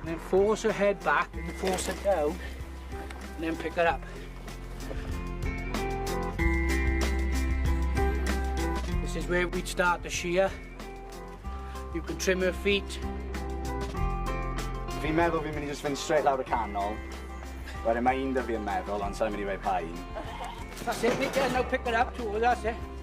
And then force her head back and force her down and then pick her up. This is where we'd start the shear. You can trim her feet. Fi'n meddwl fi'n mynd i just fynd straight lawr y canol. Wedyn mae un da fi yn meddwl, ond sa'n mynd i fe pa un. That's it, Mick, now pick her up to, that's it.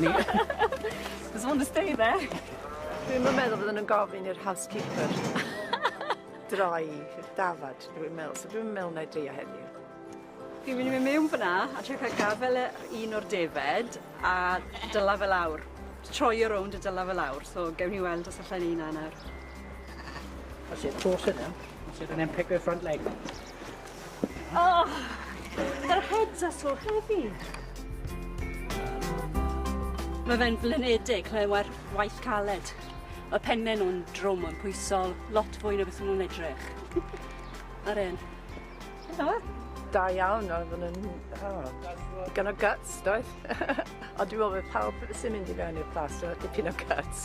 Ni. Does one to stay there. Dwi'm yn meddwl fydden nhw'n gofyn i'r housekeeper droi i'r dafad, dwi'n meddwl, so dwi'n meddwl na i dreio heddiw. Fi'n mynd i mynd mewn fyna a trio cael gafel ar un o'r defed a dyla fel awr. Troio rownd y dyla fel awr, so gewn ni weld os allai'n ei na nawr. That's it, force it now. That's it, and then pick her front leg. Oh, yr heads are so heavy. Mae fe'n flinedig clywed waith caled. Mae penne nhw'n drwm yn pwysol, lot fwy na beth nhw'n edrych. Ar un. Da iawn, oedd yn yn... Oh, digon o guts, doedd? Ond dwi'n meddwl bod pawb sy'n mynd i fewn i'r plas, dwi'n dipyn o guts.